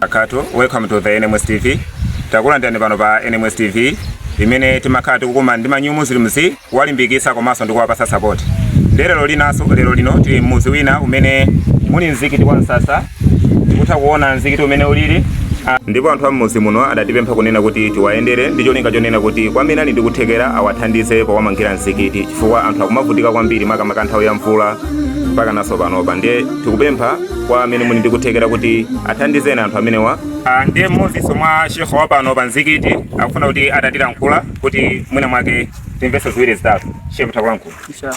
barakatuh welcome to the nms tv takulandirani pano pa nms tv imene timakhala tikukumana ndi ma new muslims kuwalimbikisa komanso ndikuwapasa support nde lero linaso lero lino tili mmuzi wina umene muli mzikiti wa msasa kutha kuona mzikiti umene ulili ndipo anthu am'mudzi muno adatipempha kunena kuti tiwayendere ndi cholinga chonena kuti kwa amene ali ndi kuthekera awathandize powamangira mzikiti chifukwa anthu akumavutika kwambiri makamaka nthawi ya mvula mpaka naso panopa ndiye tikupempha kwa amene muli ndi kuthekera kuti athandizeni anthu amenewa Ah, ndiye mmodzinso mwa ma shehe wa pano pa mzikiti akufuna kuti atatilankhula kuti mwina mwake timvese ziwiri zitatu shehe takulankhulani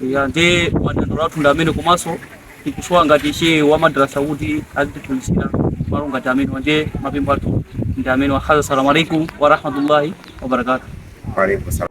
ya ndi madandaulo athu ndi amene komanso tikusowa ngati shehe wa madrasa kuti azitiphunzira malo ngati amene ndi mapempho athu ndi amene wakhaza assalamu alaikum wa rahmatullahi wa barakatuh Waalaikum salaam.